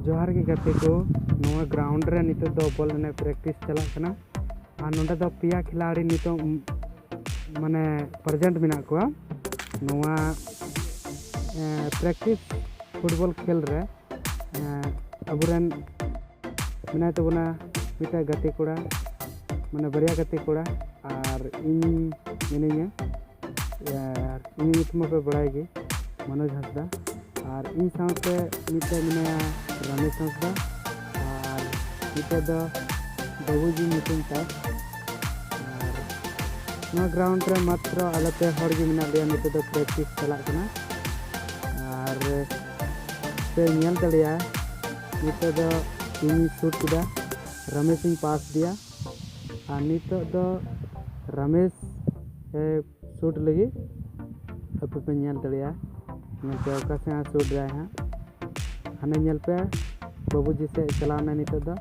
ᱡᱚᱦᱟᱨ ᱜᱮ ᱜᱟᱛᱮ ᱠᱚ ᱱᱚᱣᱟ ᱜᱨᱟᱣᱩᱱᱰ ᱨᱮ ᱱᱤᱛᱚᱜ ᱫᱚ ᱵᱚᱞ ᱮᱱᱮᱡ ᱯᱨᱮᱠᱴᱤᱥ ᱪᱟᱞᱟᱜ ᱠᱟᱱᱟ ᱟᱨ ᱱᱚᱰᱮ ᱫᱚ ᱯᱮᱭᱟ ᱠᱷᱤᱞᱟᱲᱤ ᱱᱤᱛᱚᱜ ᱢᱟᱱᱮ ᱯᱨᱮᱡᱮᱱᱴ ᱢᱮᱱᱟᱜ ᱠᱚᱣᱟ ᱱᱚᱣᱟ ᱯᱨᱮᱠᱴᱤᱥ ᱯᱷᱩᱴᱵᱚᱞ ᱠᱷᱮᱞ ᱨᱮ ᱟᱵᱚᱨᱮᱱ ᱢᱮᱱᱟᱭ ᱛᱟᱵᱚᱱᱟ ᱢᱤᱫᱴᱟᱝ ᱜᱟᱛᱮ ᱠᱚᱲᱟ ᱢᱟᱱᱮ ᱵᱟᱨᱭᱟ ᱜᱟᱛᱮ ᱠᱚᱲᱟ ᱟᱨ ᱤᱧ ᱢᱤᱱᱟᱹᱧᱟ ᱟᱨ ᱤᱧ ᱧᱩᱛᱩᱢ ᱢᱟᱯᱮ ᱵᱟᱲᱟᱭ ᱜᱮ ᱢᱚᱱᱳᱡᱽ ᱦᱟᱸᱥᱫᱟ ᱟᱨ ᱤᱧ ᱥᱟᱶᱛᱮ ᱢᱤᱫᱴᱮᱡ ᱢᱮᱱᱟᱭᱟ ᱨᱟᱢᱮᱥ ᱦᱟᱸᱥᱫᱟ ᱟᱨ ᱢᱤᱫᱴᱮᱡ ᱫᱚ ᱵᱟᱹᱵᱩᱡᱤ ᱧᱩᱛᱩᱢ ᱛᱟᱭ ᱟᱨ ᱱᱚᱣᱟ ᱜᱨᱟᱣᱩᱱᱰ ᱨᱮ ᱢᱟᱛᱨᱚ ᱟᱞᱮ ᱯᱮ ᱦᱚᱲ ᱜᱮ ᱢᱮᱱᱟᱜ ᱞᱮᱭᱟ ᱱᱤᱛᱚᱜ ᱫᱚ ᱯᱨᱮᱠᱴᱤᱥ ᱪᱟᱞᱟᱜ ᱠᱟᱱᱟ ᱟᱨ ᱯᱮ ᱧᱮᱞ ᱫᱟᱲᱮᱭᱟᱜᱼᱟ ᱱᱤᱛᱚᱜ ᱫᱚ ᱤᱧ ᱥᱩᱴ ᱠᱮᱫᱟ ᱨᱟᱢᱮᱥ ᱤᱧ ᱯᱟᱥ ᱟᱫᱮᱭᱟ ᱟᱨ ᱱᱤᱛᱚᱜ ᱫᱚ ᱨᱟᱢᱮᱥ ᱮ ᱥᱩᱴ ᱞᱟᱹᱜᱤᱫ ᱟᱯᱮ ᱯᱮ ᱧᱮᱞ ᱫᱟᱲᱮᱭᱟᱜᱼᱟ ᱱᱚᱛᱮ ᱚᱠᱟ ᱥᱮᱫ ᱦᱟᱸᱜ ᱥᱩᱴ ᱫᱟᱭ ᱦᱟᱸᱜ ᱦᱟᱱᱮ ᱧᱮᱞ ᱯᱮ ᱵᱟᱹᱵᱩᱡᱤ ᱥᱮᱫ ᱪᱟᱞᱟᱣ ᱮᱱᱟᱭ ᱱᱤᱛᱚᱜ ᱫᱚ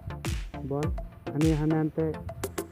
ᱵᱚᱞ ᱦᱟᱹᱱᱤ ᱦᱟᱱᱮ ᱦᱟᱱᱛᱮ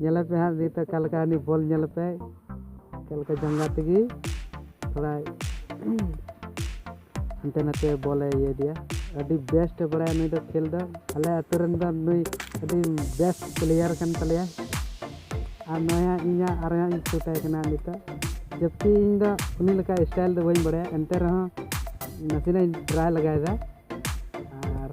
ᱧᱮᱞᱮ ᱯᱮ ᱦᱟᱸᱜ ᱱᱤᱛ ᱚᱠᱟ ᱞᱮᱠᱟ ᱩᱱᱤ ᱵᱚᱞ ᱧᱮᱞᱮ ᱯᱮ ᱚᱠᱟ ᱞᱮᱠᱟ ᱡᱟᱸᱜᱟ ᱛᱮᱜᱮ ᱛᱷᱚᱲᱟ ᱦᱟᱱᱛᱮ ᱱᱟᱛᱮ ᱵᱚᱞᱮ ᱤᱭᱟᱹ ᱤᱫᱤᱭᱟ ᱟᱹᱰᱤ ᱵᱮᱥᱴ ᱮ ᱵᱟᱲᱟᱭᱟ ᱱᱩᱭ ᱫᱚ ᱠᱷᱮᱞ ᱫᱚ ᱟᱞᱮ ᱟᱹᱛᱩ ᱨᱮᱱ ᱫᱚ ᱱᱩᱭ ᱟᱹᱰᱤ ᱵᱮᱥᱴ ᱯᱞᱮᱭᱟᱨ ᱠᱟᱱ ᱛᱟᱞᱮᱭᱟ ᱟᱨ ᱱᱚᱜᱼᱚᱭ ᱦᱟᱸᱜ ᱤᱧᱟᱹᱜ ᱟᱨ ᱦᱟᱸᱜ ᱤᱧ ᱥᱩᱴᱟᱭ ᱠᱟᱱᱟ ᱱᱤᱛᱚᱜ ᱡᱟᱹᱥᱛᱤ ᱤᱧ ᱫᱚ ᱩᱱᱤ ᱞᱮᱠᱟ ᱥᱴᱟᱭᱤᱞ ᱫᱚ ᱵᱟᱹᱧ ᱵᱟᱲᱟᱭᱟ ᱮᱱᱛᱮ ᱨᱮᱦᱚᱸ ᱱᱟᱥᱮᱱᱟᱜ ᱤᱧ ᱴᱨᱟᱭ ᱞᱮᱜᱟᱭᱮᱫᱟ ᱟᱨ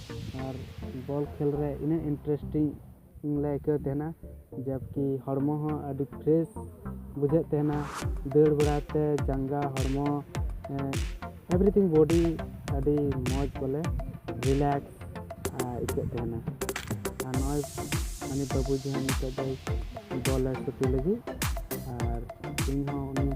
ᱟᱨ ᱵᱚᱞ ᱠᱷᱮᱞ ᱨᱮ ᱤᱱᱟᱹᱜ ᱤᱱᱴᱟᱨᱮᱥᱴᱤᱝ ᱞᱮ ᱟᱹᱭᱠᱟᱹᱣ ᱛᱟᱦᱮᱱᱟ ᱡᱟᱵᱽᱠᱤ ᱦᱚᱲᱢᱚ ᱦᱚᱸ ᱟᱹᱰᱤ ᱯᱷᱨᱮᱥ ᱵᱩᱡᱷᱟᱹᱜ ᱛᱟᱦᱮᱱᱟ ᱫᱟᱹᱲ ᱵᱟᱲᱟᱛᱮ ᱡᱟᱸᱜᱟ ᱦᱚᱲᱢᱚ ᱮᱵᱷᱨᱤᱛᱷᱤᱝ ᱵᱚᱰᱤ ᱟᱹᱰᱤ ᱢᱚᱡᱽ ᱵᱚᱞᱮ ᱨᱤᱞᱮᱠᱥ ᱟᱹᱭᱠᱟᱹᱜ ᱛᱟᱦᱮᱱᱟ ᱟᱨ ᱱᱚᱜᱼᱚᱭ ᱩᱱᱤ ᱵᱟᱹᱵᱩ ᱡᱟᱦᱟᱸᱭ ᱱᱤᱛᱚᱜ ᱫᱚᱭ ᱵᱚᱞᱮ ᱜᱟᱛᱮ ᱞᱟᱹᱜᱤᱫ ᱟᱨ ᱤᱧ ᱦᱚᱸ ᱩᱱᱤ